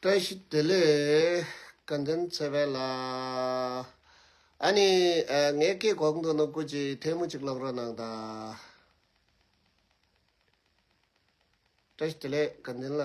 བཀྲ་ཤིས་བདེ་ལེགས། བཀའ་དྲིན་ཆེ་བས་ལ། ཨཱ་ནི། ངའི་སྐད་གོག་འདུག་ནོར་བུ་གཅིག་ཐལ་མོ་གཅིག་ལོག་རོགས་གནང་ད། བཀྲ་ཤིས་བདེ་ལེགས་བཀའ་དྲིན་ལ།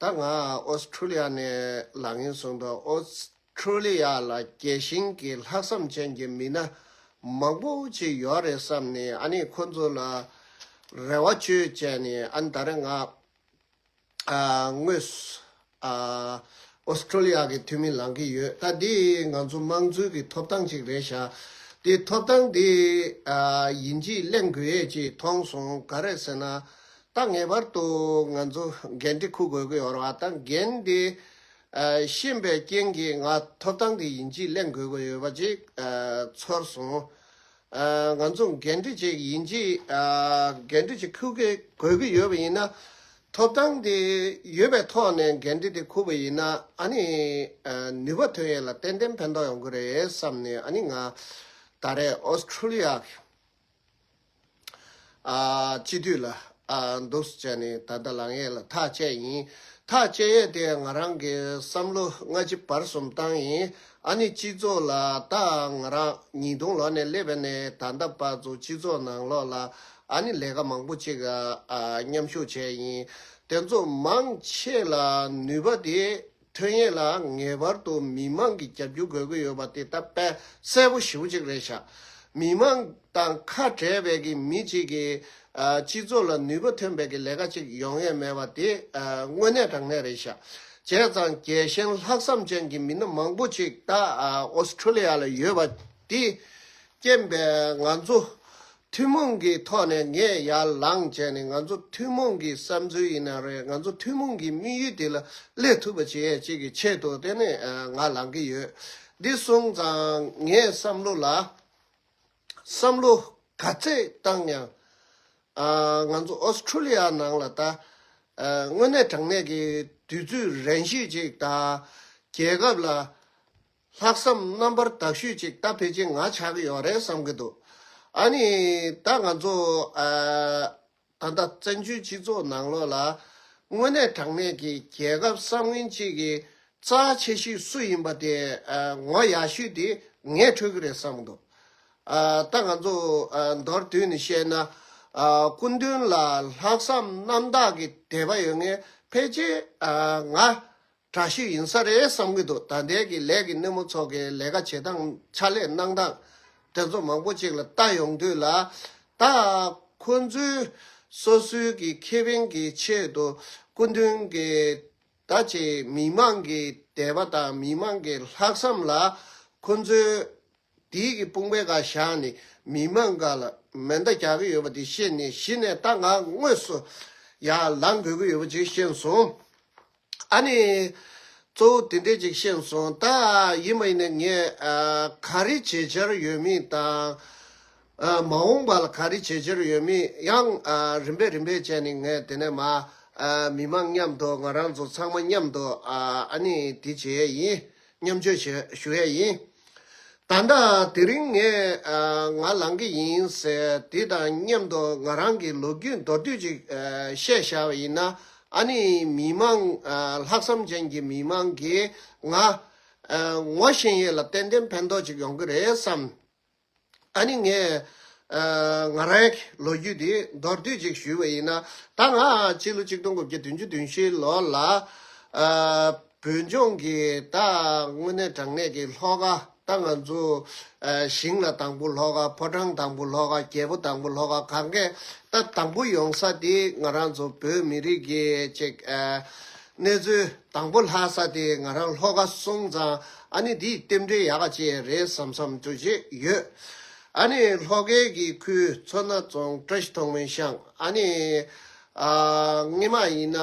ད་ང Australia ནས་ལག་ངན་བཟུང་འདུག Australia ལ་རྒྱལ་ཞེན་གྱི་ལྷག་བསམ་ཅན་གྱི་མི་སྣ་མང་པོ་ཅིག་ཡོད་རེད་བསམ་ནས་ཨ་ནི་ཁོ་ཚོ་ལ་རེ་བ་བཅོལ་བྱས་ནས་ཨ་ནི་ད་རེས་ང་དངོས Australia གི་འཐུས་མི་ལངས་ཀྱི་ཡོད་ད་འདི་ང་ཚོ་དམངས་གཙོའི་གི་ཐོབ་ཐང་ཅིག་རེད་ཤག་འདི་ཐོབ་ཐང་འདི་ཡིན་གྱིས་གླེང་དགོས་ཡས་ཅིག་མཐོང་སོང་ག་རེད་ཟེར་ན་ད་ངེས་པར་དུ་ང་ཚོ་འགན་འདི་འཁུར་དགོས་ཀྱི་ཡོད་རེད་བ་དང་འགན་འདི་ཤེས་པའི་རྐྱེན་གྱིས་ང་ཐོབ་ཐང་གི་ཡིན་གཅིག་གླེང་དགོས་ཀྱི་ཡོད་པ་ཅིག་ཚོར་སོང། ང་ཚོ་འགན་འཁྲི་ཅིག་ཡིན་གཅིག་འགན་འཁྲི་ཅིག་འཁུར་དགོས་ཀྱི་ཡོད་པ་ཡིན་ན། ཐོབ་ཐང་དེ་ཡོད་པའི་ཐོག་ནས་འགན་འཁྲི་དེ་འཁུར་བ་ཡིན་ན་ཨ་ནི་ནུས་པ་ཐོན་ཡོད་ལ་ཏན་ཏན་ཕན་ཐོགས་ཡོང་གི་རེད་བསམ་ནས་ཨ་ནི་ང་ད་རེས Australia། སྤྱི་འཐུས་ལ། འདུག་ཟེར་བྱས་ནས་ད་ལྟ་ལངས་ཡས་ལ་ཐག་བཅད་ཡིན། ཐག་བཅད་ཡས་དེ་ང་རང་གི་བསམ་བློ་སྔ་ཕྱི་བར་གསུམ་བཏང་ཡིན། ཨ་ནི་སྤྱི་ཚོགས་ལ་ད་ང་རང་ཉིས་སྟོང་ལོ་ནས་སླེབས་པ་ནས་ད་ལྟ་བར་དུ་སྤྱི་ཚོགས་ནང་ལོགས་ལ་ཨ་ནི་ལས་ཀ་མང་པོ་ཅིག་མཉམ་ཞུགས་བྱས་ཡིན། དེ་ཚོ་མང་ཆེ་ལ་ནུས་པ་དེ་ཐོན་ཡས་ལ་ངེས་པར་དུ་མི་མང་གི་རྒྱབ་སྐྱོར་དགོས་ཀྱི་ཡོད་པ་དེ་ད་དཔལ་གསལ་པོ་ཞུ་གཅིག་རེད་བྱ། མི་མང་དང་ཁ་བྲལ་བས་ཀྱི་མི་གཅིག་གིས་སྤྱི་ཚོགས་ལ་ནུས་པ་ཐོན་བས་ཀྱི་ལས་ཀ་གཅིག་ཡོང་ཡས་མེད་པ་དེ་དངོས་གནས་དྲང་གནས་རེད་བྱ། བྱས་ཙང་རྒྱལ་ཞེན་ལྷག་བསམ་ཅན་གྱི་མི་སྣ་མང་པོ་གཅིག་ད Australia ལ་ཡོད་པ་དེས་རྐྱེན་པས་ང་ཚོ་ཐུན་མོང་གི་ཐོག་ནས་ངས་ཡར་ལངས་བྱས་ནས་ང་ཚོ་ཐུན་མོང་གི་བསམ་ཚུལ་ཡིན་ན་རེད་ང་ཚོ་ཐུན་མོང་གི་དམིགས་ཡུལ་དེ་ལ་སླེབས་ཐུབ་པ་བྱེད་ཡས་ཅིག་གི་ཆེད་དུ་དེ་ནས་ང་ལངས་ཀྱི་ཡོད། འདི་སོང་ཙང་ངས་བསམ་བློ་ལ་བསམ་བློ་ག་ཚད་བཏང་ཡང། ང་ཚོ Australia ནང་ལ་ད། དངོས་གནས་དྲང་གནས་ཀྱི་དུས་ཚོད་རན་ཞིག་ཅིག་དང་རྒྱལ་ཁབ་ལ། ལྷག་བསམ་རྣམ་པར་དག་ཞུས་ཅིག་ད་ཕལ་ཆེར་ང་ཆགས་ཀྱི་ཡོད་རེད་བསམ་གྱི་འདུག་ཨ་ནི་ད་ང་ཚོ་ད་ལྟ་བཙན་བྱོལ་སྤྱི་ཚོགས་ནང་ལོགས་ལ་དངོས་གནས་དྲང་གནས་ཀྱི་རྒྱལ་ཁབ་གསར་བསྔན་གཅིག་གི་རྩ་ཆེ་ཤོས་སུ་ཡིན་པ་དེ་ངོ་ཡག་ཤོས་དེ་ངས་འཕྲོད་ཀྱི་རེད་བསམ་གྱི་འདུག་ད་ང་ཚོ་མདོར་བསྡུས་ནས་བཤད་ན་སྐུ་མདུན་ལ་ལྷག་བསམ་རྣམ་དག་གི་དད་པ་ཡོད་ངེས་ཕལ་ཆེར་ང་དྲག་ཤུལ་ཡིན་ས་རེད་བསམ་གྱི་འདུག་ད་ལྟའི་གི་ལས་ཀྱི་སྣེ་མོ་ཚོགས་ཀྱི་ལས་ཀ་བྱེད་སྟངས་ཕྱག་ལས་གནང་སྟངས་དེ་ཚོ་མང་པོ་ཅིག་ལ་ལྟ་ཡོང་དུས་ལ། ད་ཁོ་ཚོས་སོ་སོའི་གི་ཁེ་ཕན་གྱི་ཆེད་དུ་སྐུ་མདུན་གྱི་ད་ཆའི་མི་མང་གི་དད་པ་དང་མི་མང་གི་ལྷག་བསམ་ལ་ཁོ་ཚོའི་དེའི་གི་དཔུང་པའི་ག་ཞག་ནི་མི་མ་འགའ་ལ་མེ་མདའ་རྒྱག་གི་ཡོད་པ་དེ་ཤེས་ནས་གཞི་ནས་རྟ་ང་དངོས་སུ་ཡར་ལངས་དགོས་ཀྱི་ཡོད་པ་ཅིག་ཤེས་སོང། ཨ་ནི། གཙོ་བོ་དེ་འདྲས་ཅིག་ཤེས་སོང་ད། ཡིན་མ་ཡིན་ནས་ངས་ག་རེ་བྱེད་འཆར་ཡོད་མིན་དང། མ་འོངས་པ་ལ་ག་རེ་བྱེད་འཆར་ཡོད་མིན་ཡང་རིམ་པས་རིམ་པས་དཔྱད་ནས་ངས་དེ་ནས་མ། མི་མ་མཉམ་དུ་ང་རང་ཚོ་ཚང་མ་མཉམ་དུ་ཨ་ནི་དེ་བྱེད་ཡས་ཡིན། མཉམ་སྤྱོད་བྱེད་ཞུ་ཡས་ཡིན། ད་ལྟ་དེ་རིང་ངས་ང་ལང་གི་ཡིན་ཟེར་དེ་དང་མཉམ་དུ་ང་རང་གི་ལོ་རྒྱུས་མདོར་བསྡུས་ཅིག་བཤད་བཞག་པ་ཡིན་ན་ཨ་ནི་མི་དམངས་ལྷག་བསམ་ཅན་གྱི་མི་དམངས་ཀྱིས་ང། ངོ་ཤེས་ཡས་ལ་ཏན་ཏན་ཕན་ཐོག་ཅིག་ཡོང་གི་རེད་བསམས། ད་ནི་ངས། ང་རང་གི་ལོ་རྒྱུས་འདི་མདོར་བསྡུས་ཅིག་ཞུས་པ་ཡིན། ད་ང་སྤྱི་ལོ་གཅིག་སྟོང་དགུ་བརྒྱ་བདུན་ཅུ་བདུན་བཞི་ལོ་ལ། བོད་ལྗོངས་ཀྱི་ད་དངོས་གནས་དྲང་གནས་ཀྱི་ལྷོ་ཁ་ད་ང་ཚོ། ཞིང་ལ་དང་པོ་ལྷོ་ཁ་ཕོ་བྲང་དང་པོ་ལྷོ་ཁ་རྒྱལ་པོ་དང་པོ་ལྷོ་ཁ་གང་གཱའི་ད་དང་པོ་ཡོང་ས་དེ་ང་རང་ཚོ་བོད་མི་རིགས་ཀྱི་གཅིག། གནས་ཚུལ་དང་པོ་ལྷག་ས་དེ་ང་རང་ལྷོ་ཁ་སོང་ཙང། ཨ་ནི་འདིས་རྟེན་འབྲེལ་ཡག་ག་ཅེས་རེད་བསམ་བསམ་དུ་བྱེད་ཡོད། ཨ་ནི་ལྷོ་སྐལ་གྱི་ཁུལ་མཚོ་སྣ་རྫོང་བཀྲ་ཤིས་ཐོག་མའི་ཤང་ཨ་ནི་སྔེ་མ་ཡིན་ན།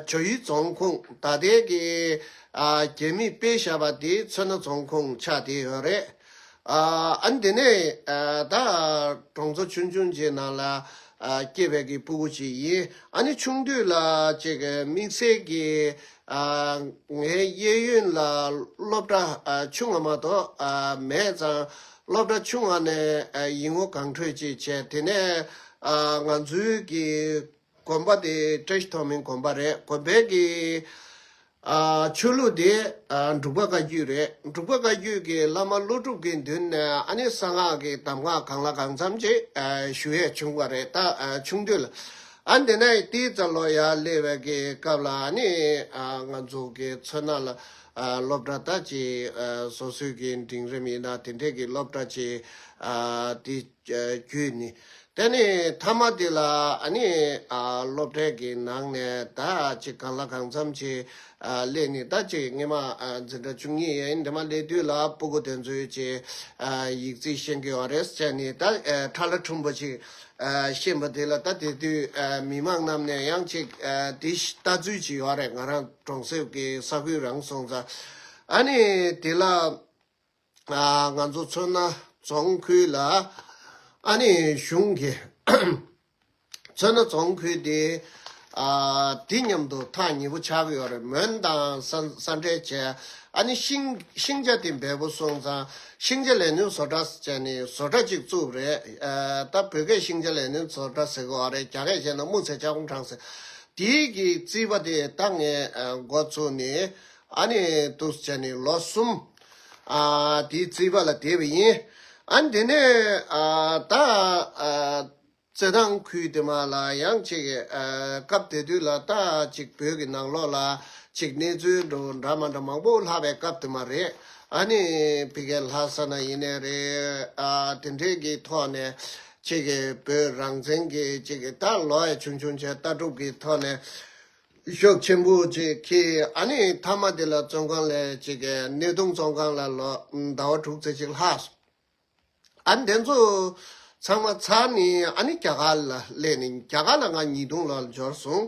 ཇོ་ཡུལ་རྫོང་ཁུངས་ད་ལྟའི་གི་རྒྱལ་མི་དཔེ་ཞབས་པ་དེ་མཚོ་སྣ་རྫོང་ཁུངས་ཆགས་དེ་ཡོད་རེད། ཨ་འདི་ནི་ད་གྲོང་ཚོ་ཆུང་ཆུང་ཅིག་ནང་ལ་སྐྱེས་པའི་གི་སྤུ་གུ་ཅིག་ཡིན་ཨ་ནི་ཆུང་དུས་ལ་ཅིག་གི་དམིགས་བསལ་གི་ངའི་གཡས་གཡོན་ལ་སློབ་གྲྭ་ཆུང་ང་མ་གཏོགས་མེད་ཙང་སློབ་གྲྭ་ཆུང་ང་ནས་ཡིག་ངོ་གང་འཕྲོད་ཅིག་བྱས་དེ་ནས་ང་ཚོའི་གི་དགོན་པ་དེ་བཀྲ་ཤིས་ཐོགས་མེད་དགོན་པ་རེད་དགོན་པའི་གི། ཆོས་ལུགས་དེ་འབྲུག་པ་བཀའ་བརྒྱུད་རེད་འབྲུག་པ་བཀའ་བརྒྱུད་གི་བླ་མ་ཀླུ་སྒྲུབ་གི་མདུན་ནས་ཨ་ནི་གསང་སྔགས་གི་གདམས་ངག་གང་ལ་གང་འཚམ་ཅིག་ཞུ་ཡས་བྱུང་བ་རེད་ད་ཆུང་དུས་ལ་ཨ་འདི་ནས་ཏིའི་ཙཱ་ལོ་ཡ་གླེ་བའི་གི་སྐབས་ལ་ཨ་ནི་ང་ཚོ་གི་མཚོན་ན་ལ་སློབ་གྲྭ་ལྟ་ཅི་བཟོ་སྲོལ་གི་འབྲིང་རིམ་ཡིན་ན་དེ་འདྲས་གི་སློབ་གྲྭ་ཅིག་ཏིའི། ཁྱོད་ནི་དེ་ནི་མཐའ་མ་དེ་ལ་ཨ་ནི་སློབ་གྲྭའི་གི་ནང་ནས་ད་ཅིག་གང་ལ་གང་འཚམ་ཅིག་སླེ་ནི་ད་ཅིག་ངེད་མ་འཛིན་གྲྭ་བཅུ་གཉིས་ཡིན་དེ་མ་སླེ་དུས་ལ་སྤུ་གུ་དེ་ཚོའི་ཅི་ཡིག་རྩིས་ཤེས་གི་ཨོ་རེད་ཅེས་ནི་ད་ཁྲ་ལ་ཁྲུམ་པོ་ཅིག་བཤད་པ་དེ་ལ་ད་དེ་དུས་མི་མང་རྣམས་ནས་ཡང་ཅིག་དེ་ལྟ་ཚུལ་ཅིག་ཨོ་རེད་ང་རང་གྲོང་གསེབ་གི་ས་ཁུལ་རང་སོང་ཙང་ཨ་ནི་དེ་ལ། ང་ཚོ་མཚོན་ན་རྫོང་ཁུལ་ལ་ཨ་ནི་གཞུང་གིས་མཚོན་ན་རྫོང་ཁུལ་དེ་དེ་མཉམ་དུ་ཐག་ཉེ་པོ་ཆགས་ཡོད་རེད་མོན་དང་ས་འབྲེལ་བྱས་ཨ་ནི་ཤིང་ཤིང་ཆ་དེ་འབེལ་པོ་སོང་ཙང་ཤིང་ཆ་ལས་སྣོན་བཟོ་གྲྭ་བྱས་ནས་བཟོ་གྲྭ་གཅིག་བཙུགས་པ་རེད་ད་བོད་སྐད་ཤིང་ཆ་ལས་སྣོན་བཟོ་གྲྭ་ཟེར་གི་འོ་རེད་རྒྱ་སྐད་བཤད་ན་སྨུག་ཚལ་ལྕགས་ཀོང་བྲང་ཟེར་དེའི་གི་རྩིས་པ་དེ་ད་ངས་འགོ་བཙུགས་ནས་ཨ་ནི་འདུག་བྱས་ནས་ལོ་གསུམ། དེའི་རྩིས་པ་ལ་དེ་བས་ཡིན། ཨ་འདི་ནས་ད་བཙན་ནང་ཁུལ་དེ་མ་ལ་ཡང་ཅིག་སྐབས་དེ་དུས་ལ་ད་ཅིག་བོད་ཀྱི་ནང་ལོགས་ལ་ཅིག་གནས་ཚུལ་འགྲོ་འདྲ་མ་འདྲ་མང་པོ་ལྷག་པའི་སྐབས་དེ་མ་རེད་ཨ་ནི་ཕི་གའི་ལྷ་ས་ན་ཡིན་ནས་རེད་ཨ་དེ་འདྲས་ཀྱི་ཐོག་ནས་ཅིག་བོད་རང་བཙན་གྱི་ཅིག་ད་ལོའི་བྱུང་བྱུང་བྱས་ལྟ་གྲུབ་ཀྱི་ཐོག་ནས། ཤོག་ཆེན་པོ་བཅས་ཀྱིས་ཨ་ནེ་དྷར་མ་དེ་ལ་བཙོན་ཁང་ལས་བཅད་དེ་སྣེ་གདོང་བཙོན་ཁང་ལ་ལོག་ཟླ་བ་དྲུག་ཚེས་གཅིག་ལྷག་སོང། ཨ་དེ་ཚོ་ཚང་མ་ཚར་ནས་ཨ་ནེ་རྒྱ་གར་ལ་སླེབས་ནས་རྒྱ་གར་ལ་ང་ཉིས་སྟོང་ལོར་འབྱོར་སོང།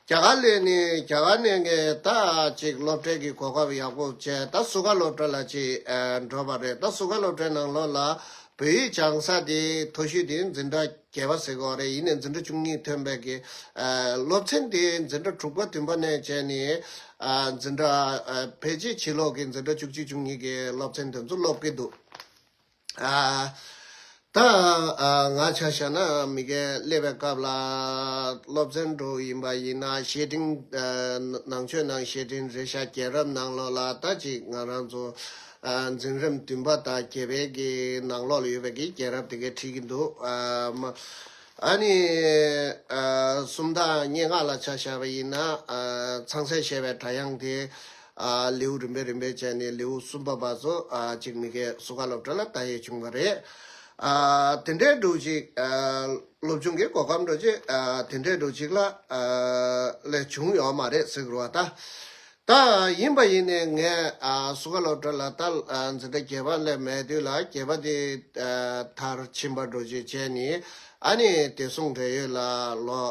རྒྱ་གར་སླེབས་ནས་རྒྱ་གར་ནས་ངས་ད་ཅིག་སློབ་གྲྭའི་གི་གོ་སྐབས་ཡག་པོ་བྱས་ད་སུ་ཁ་སློབ་གྲྭ་ལ་ཅིག་འགྲོ་བ་རེད་ད་སུ་ཁ་སློབ་གྲྭའི་ནང་ལོགས་ལ་བོད་ཡིག་སྦྱང་ས་དེ་མཐོ་ཤོས་དེ་འཛིན་གྲྭ་རྒྱལ་བ་སྲས་གོ་རེ་ཡིས་ནས་འཛིན་གྲྭ་བཅུ་གཉིས་ཐོན་པའི་དགེ། སློབ་ཚན་དེ་འཛིན་གྲྭ་དྲུག་པ་བདུན་པ་ནས་བྱས་ནས། འཛིན་གྲྭ་བེད་སྤྱད་བྱེད་ལོག་གིས་འཛིན་གྲྭ་བཅུ་གཅིག་བཅུ་གཉིས་ཀྱི་སློབ་ཚན་དེ་ཚོ་སློབ་ཀྱི་འདུག། ད་ང་ཆ་བཞག་ན་མི་རྒན་སླེབས་པའི་སྐབས་ལ་སློབ་ཚན་དྲུག་ཡིན་པ་ཡིན་ན་བཤེས་སྤྲིང། ནང་ཆོས་ནང་བཤེས་སྤྲིང་རེ་བཞག་རྒྱལ་རབས་ནང་ལོགས་ལ་ད་ཅིག་ང་རང་ཚོ། འཛིན་རིམ་བདུན་པ་དང་བརྒྱད་པའི་གི་ནང་ལོགས་ལ་ཡོད་པའི་གི་རྒྱལ་རབས་དེ་གའི་ཁྲིད་ཀྱི་འདུག་མ་ཨ་ནི། སུམ་དང་སྙེ་ལྔ་ལ་ཆ་བཞག་པ་ཡིན་ན། ཚངས་སྲས་བཤད་པའི་སྒྲ་དབྱངས་དེ། ལེའུ་རིམ་པས་རིམ་པས་བྱས་ནས་ལེའུ་གསུམ་པ་བར་དུ་གཅིག་མི་དགེ་སུ་ཁ་སློབ་གྲྭ་ལ་བལྟ་ཡས་བྱུང་བ་རེད། དེ་འདྲའི་འགྲོ་གཅིག། སློབ་ཆུང་གི་གོ་སྐབས་འགྲོ་གཅིག་དེ་འདྲའི་འགྲོ་གཅིག་ལ། ལས་བྱུང་ཡོད་མ་རེད་ཟེར་དགོས་བ་ད། ད་ཡིན་པ་ཡིན་ནས་ངས་སུ་ཁ་ལོ་བྲོ་ལ་ད་འཛི་ད་གྱེས་པ་སླེབས་མེད་དུས་ལ་གྱེས་པ་དེ་མཐར་ཕྱིན་པར་འགྲོ་རྒྱུའི་ཆེད་ནི་ཨ་ནི་དེ་གསུང་འབྲེལ་ཡོད་ལ་ལོ་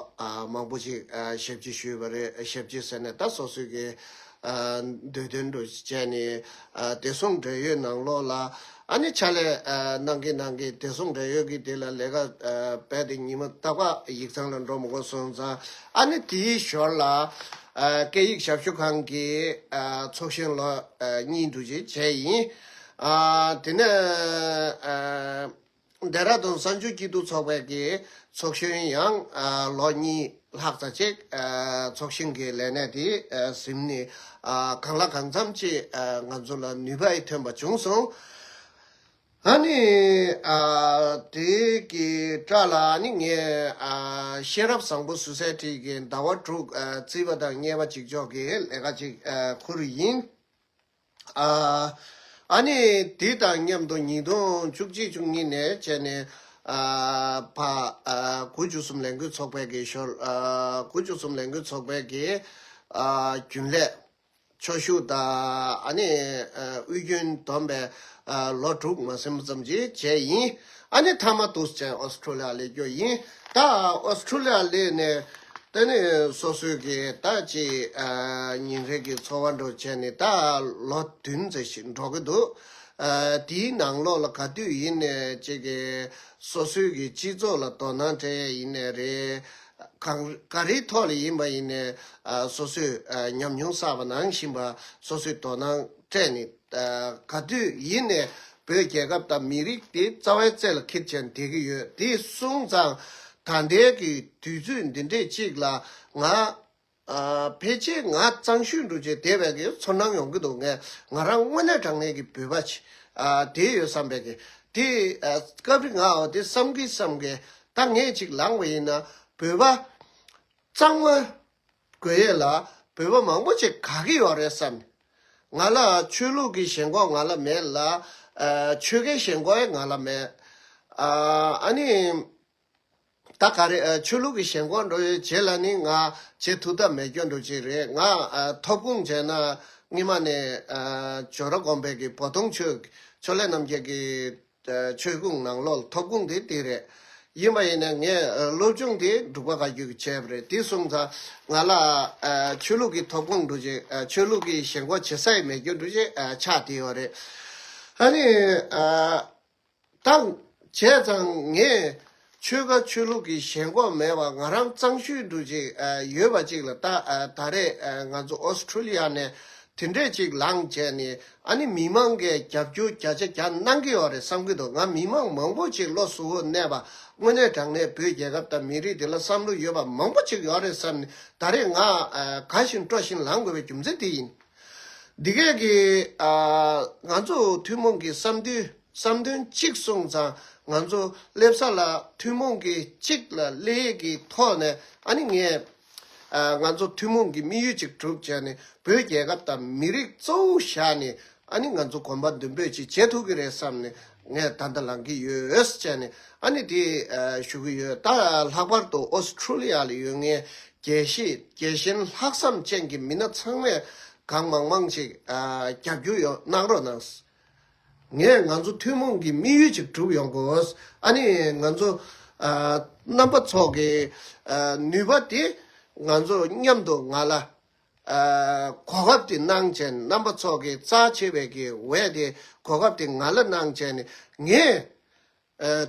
མང་པོ་ཞིག་ཞབས་ཕྱི་ཞུས་པ་རེད་ཞབས་ཕྱི་ཟེར་ནས་ད་སོ་སོའི་གི་འདོད་དོན་དུ་བྱས་ནི་དེ་གསུང་འབྲེལ་ཡོད་ནང་ལོགས་ལ་ཨ་ནི་ཕྱག་ལས་གནང་གིན་གནང་གིན་དེ་གསུམ་འབྲེལ་ཡོད་ཀྱིས་དེ་ལ་ལས་ཀ་བས་ཏེ་ཉིན་མོ་རྟག་པར་ཡིག་ཚང་ལ་འགྲོ་མི་དགོས་སོང་ཙང་ཨ་ནི་དེའི་ཞོར་ལ། སྐད་ཡིག་ཞབས་ཞུ་ཁང་གི་ཚོགས་གཞོན་ལོ་གཉིས་འདུ་བྱེད་བྱས་ཡིན། དེ་ནས། རྡ་ར་དོན་གསར་འགྱུར་སྐྱིད་སྡུག་ཚོགས་པའི་གི་ཚོགས་གཞོན་ཡང་ལོ་གཉིས་ལྷག་ཙ་གཅིག་ཚོགས་ཞིང་གི་ལས་གནས་དེ་ཟིན་ནས་གང་ལ་གང་འཚམ་ཅིག་ང་ཚོ་ལ་ནུས་པ་ཡི་ཐོན་པ་བྱུང་སོང། ཨ་ནི་དེ་གི་སྐྲ་ལ་ནི་ངས་ཤེས་རབ་བཟང་པོ་ཟུར་ཟའི་ཁྲིད་ཀྱི་ཟླ་བ་དྲུག་བརྩིས་པ་དང་བསྙད་པ་གཅིག་ལྕོགས་ཀྱི་ལས་ཀ་གཅིག་ཁུར་ཡིན། ཨ་ནི་དུས་དང་མཉམ་དུ་ཉིས་སྟོང་བཅུ་གཅིག་བཅུ་གཉིས་ནས་བཅད་ནས་བ། དགུ་བཅུ་གསུམ་ལས་འགུལ་ཚོགས་པའི་གི་ཞོར། དགུ་བཅུ་གསུམ་ལས་འགུལ་ཚོགས་པའི་གི་རྒྱུན་ལས། ཕྱོགས་ཞུགས་དང་ཨ་ནི་དབུས་རྒྱུན་བསྡོམས་པའི་ལོ་དྲུག་མ་ཟིན་པ་ཙམ་གྱི་རྗེས་ཡིན། ཨ་ནི་ཐ་མ་ཏུས་ཅན་ཨོས་ཏྲོ་ལི་ཡ་ལས་རྒྱུ་ཡིན། ད་ཨོས་ཏྲོ་ལི་ཡ་ལས་ནས་ད་ནི་སོ་སོའི་གི་ད་ཅི་ཉིན་རེ་གི་འཚོ་བ་འགྲོ་བྱས་ནི་ད་ལོ་བདུན་ཙེ་ཞིག་འགྲོ་གི་འདུག། དེའི་ནང་ལོགས་ལ་ག་དུས་ཡིན་ནས་ཅེ་གི་སོ་སོའི་གི་སྤྱི་ཚོགས་ལ་དོ་སྣང་སྤྲད་ཡས་ཡིན་ནས་རེ། གང་ག་རེའི་ཐོག་ལ་ཡིན་པ་ཡིན་ནས་སོ་སོས་ཉམས་མྱོང་བསགས་པ་ནང་བཞིན་པ་སོ་སོས་དོ་སྣང་སྤྲད་ནི། ག་དུས་ཡིན་ནས་བོད་རྒྱལ་ཁབ་དང་མི་རིགས་དེ་རྩ་བའི་རྩེ་ལ་འཁེལ་བཞིན་བསྡད་ཀྱི་ཡོད་དེ་སོང་ཙང་ད་ལྟའི་གི་དུས་ཚོད་འདི་འདྲས་ཅིག་ལ་ང་ཕལ་ཆེར་ང་གཙང་ཤུལ་འགྲོ་རྗེས་དེ་བས་གི་ཚོར་སྣང་ཡོང་གི་འདུག་ངས་ང་རང་དངོས་གནས་དྲང་གནས་གི་བོད་པ་ཆེ་དེ་ཡོད་བསམ་པས་གི་དེ་སྐབས་རི་ངའོ་དེ་བསམ་གི་བསམ་གི་ད་ངས་ཅིག་ལངས་པ་ཡིན་ན་བོད་པ་གཙང་མ། དགོས་ཡས་ལ་བོད་པ་མང་པོ་ཆེ་ག་གི་ཡོག་རེད་བསམ། ང་ལ་ཆོས་ལུགས་ཀི་ཞེན་ཁོག་ང་ལ་མེད་ལ་ཆོས་ཁའི་ཞེན་ཁོག་ཡས་ང་ལ་མེད། ཨ་ནི་ད་ག་རེད་ཆོས་ལུགས་ཀི་ཞེན་ཁོག་འགྲོ་ཡས་བྱེད་ལ་ནི་ང་བྱེད་ཐུག་ཐབས་མེད་སྐྱོ་འགྲོ་གཅིག་རེད་ང་ཐོབ་ཁུངས་བྱས་ན་སྔི་མ་ནས་ཇོ་ར་གོམས་པས་ཀི་བོ་དོང་ཆོས་ལས་རྣམ་རྒྱལ་ཀི་ཆོས་གུང་ནང་ལོག་ཐོབ་གུང་དེ་དེ་རེད། ཡིན་པ་ཡིན་ནའི་ངས་སློབ་ཆུང་དེ་འབྲུག་པ་ག་རྒྱུད་ཀྱི་བྱས་པ་རེད་དེ་གསུམ་ཚ། ང་ལ་ཆོས་ལུགས་ཀྱི་ཐོབ་གུང་འགྲོ་ཅིང་ཆོས་ལུགས་ཀྱི་ཞེན་ཁོག་ཇེ་སད་མེད་རྒྱུ་འགྲོ་ཅིང་ཆགས་དེ་ཡོད་རེད། ཨ་ནི། ད་བྱས་ཙང་ངས་ཆོལ་ཁ་ཆོས་ལུགས་ཀྱི་ཞེན་ཁོག་མེད་པར་ང་རང་གཙང་ཤུལ་དུ་ཅིག་ཡོད་པ་ཅིག་ལ་ལྟ། ད་རེས་ང་ཚོ Australia ནས་དེ་འདྲས་ཅིག་ལངས་རྗེས་ནི་ཨ་ནི་མི་མང་གིས་རྒྱབ་སྐྱོར་བརྒྱ་ཆ་བརྒྱ་གནང་གི་ཡོད་རེད་བསམ་གྱི་འདུག་ང་མི་མང་མང་པོ་ཅིག་བློ་གཟུ་བོར་གནས་པ་དངོས་གནས་དྲང་གནས་བོད་རྒྱལ་ཁབ་དང་མི་རིགས་འདི་ལ་བསམ་བློ་ཡོད་པ་མང་པོ་ཅིག་ཡོད་རེད་བསམ་ནས་ད་རེས་ང་དགའ་བཞིན་སྤྲོ་བཞིན་ལངས་དགོས་པའི་རྒྱུ་མཚན་དེ་ཡིན། འདི་གས་ཀྱི་ང་ཚོ་ཐུན་མོང་གི་བསམ་འདུན། བསམ་དོན་གཅིག་སོང་ཙང་ང་ཚོ་སླེབས་ས་ལ་ཐུན་མོང་གི་གཅིག་ལ་སླེ་ཡས་ཀྱི་ཐོག་ནས་ཨ་ནི་ངས། ང་ཚོ་ཐུན་མོང་གི་དམིགས་ཡུལ་གཅིག་གྲུབ་བྱས་ནས་བོད་རྒྱལ་ཁབ་དང་མི་རིགས་གཙོ་བོ་བཞག་ནས་ཨ་ནི་ང་ཚོ་གོམ་པ་མདུན་སྤོས་ཅིག་བྱེད་ཐུབ་ཀྱི་རེད་བསམ་ནས་ངས་ད་ལྟ་ལངས་ཀྱི་ཡོད་བྱས་ནས་ཨ་ནི་དེ་ཞུ་གི་ཡོད་ད་ལྷག་པར་དུ Australia ལ་ཡོད་ངའི་དགེ་བཤེས་དགེ་བཞེན་ལྷག་བསམ་ཅན་གྱི་མི་སྣ་ཚང་མས་གང་མང་མང་ཅིག་རྒྱབ་སྐྱོར་ཡོད་གནང་རོགས་གནང། ངས་ང་ཚོ་ཐུན་མོང་གི་དམིགས་ཡུལ་ཅིག་གྲུབ་ཡོང་དགོས། ཨ་ནི་ང་ཚོ། རྣམ་པ་ཚོགས་ཀྱི། ནུས་པ་དེ། ང་ཚོ་མཉམ་དུ་ང་ལ། གོ་སྐབས་དེ་གནང་བྱས་ནས་རྣམ་པ་ཚོགས་ཀྱི་རྩ་ཆེ་བའི་གི་འོས་དེ་གོ་སྐབས་དེ་ང་ལ་གནང་བྱས་ནས་ངས།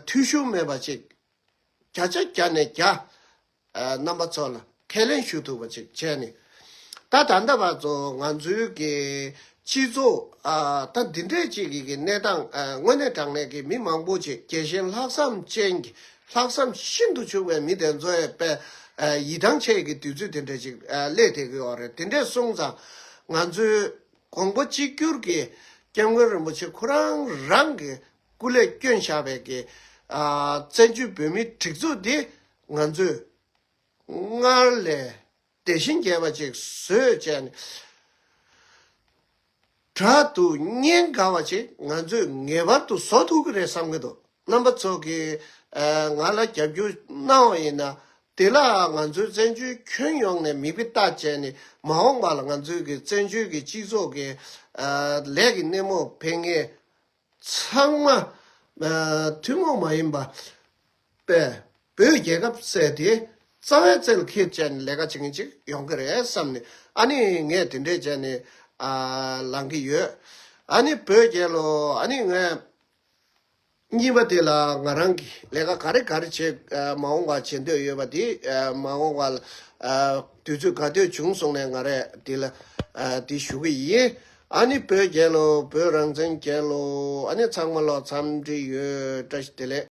འཐུས་ཤོར་མེད་པ་ཅིག། བརྒྱ་ཆ་བརྒྱ་ནས་བརྒྱ། རྣམ་པ་ཚོ་ལ་ཁས་ལེན་ཞུ་ཐུབ་པ་ཅིག་བྱས་ནས། ད་ད་ལྟ་བར་དུ་ང་ཚོའི་གི་སྤྱི་ཚོགས་ད་འདི་འདྲས་ཅིག་གི་གི་གནས་སྟངས་དངོས་གནས་དྲང་གནས་གི་མི་མང་པོ་ཆེ་གེ་ཞེན་ལྷག་བསམ་ཅན་གྱི་ལྷག་བསམ་ཤིན་ཏུ་ཕྱུག་པའི་མི་དེ་ཚོའི་པའི་ཡིད་ཐང་ཆད་གི་དུས་ཚོད་དེ་འདྲས་ཅིག་སླེབས་དེ་གི་འོག་རེད་དེ་འདྲས་སོང་ཙང་ང་ཚོའི་གོང་བུ་གཅིག་གྱུར་གི་སྐྱབས་མགོན་རིན་པོ་ཆེ་ཁོ་རང་རང་གི་སྐུ་ལས་བསྐྱོན་བཞག་པའི་གི་བཙན་བྱོལ་བོད་མིའི་སྒྲིག་འཛུགས་འདི་ང་ཚོས་སྔར་ལས་དེ་བཞིན་རྒྱས་པ་ཅིག་བཟོས་བྱས་ནས། དྲ་དུ་བརྙན་དགའ་བ་ཅིག་ང་ཚོས་ངེས་པར་དུ་བཟོ་ཐུབ་ཀྱི་རེད་བསམ་གྱི་འདུག་རྣམ་པ་ཚོ་གིས་ང་ལ་རྒྱབ་སྐྱོར་གནང་བ་ཡིན་ན། དེ་ལ་ང་ཚོའི་བཙན་བྱོལ་ཁྱོན་ཡོངས་ནས་མིག་དཔེ་ལྟ་བྱས་ནས་མ་འོངས་པ་ལ་ང་ཚོའི་གི་བཙན་བྱོལ་གྱི་སྤྱི་ཚོགས་ཀྱི་ལས་ཀྱི་སྣེ་མོ་འཕེན་ངེས། ཚང་མ་ཐུན་མོང་མ་ཡིན་པ། པས་བོད་རྒྱལ་ཁབ་བཙལ་ཏེ་རྩ་བའི་རྩལ་ཁེ། བཅས་ནས་ལས་ཀ་བྱེད་མཁན་ཅིག་ཡོང་གི་རེད་བསམ་ནས་ཨ་ནི་ངས་དེ་འདྲས་བྱས་ནས་ལངས་ཀྱི་ཡོད། ཨ་ནི་བོད་རྒྱལ་ལོ་ཨ་ནི་ངས་གཉིས་པ་དེ་ལ་ང་རང་གིས་ལས་ཀ་ག་རེ་ག་རེ་བྱེད་མ་འོང་བ་བྱེད་འདོད་ཡོད་པ་དེ་མ་འོང་བ་ལ་དུས་ཚོད་ག་དུས་བྱུང་སོང་ནས་ང་རེ་དེ་ལ་དེ་ཞུ་གི་ཡིན། ཨ་ནི་བོད་རྒྱལ་ལོ་བོད་རང་བཙན་རྒྱལ་ལོ་ཨ་ནི་ཚང་མ་ལོ་འཚམས་འདྲི་ཡོད་བཀྲ་ཤིས་བདེ་ལེགས།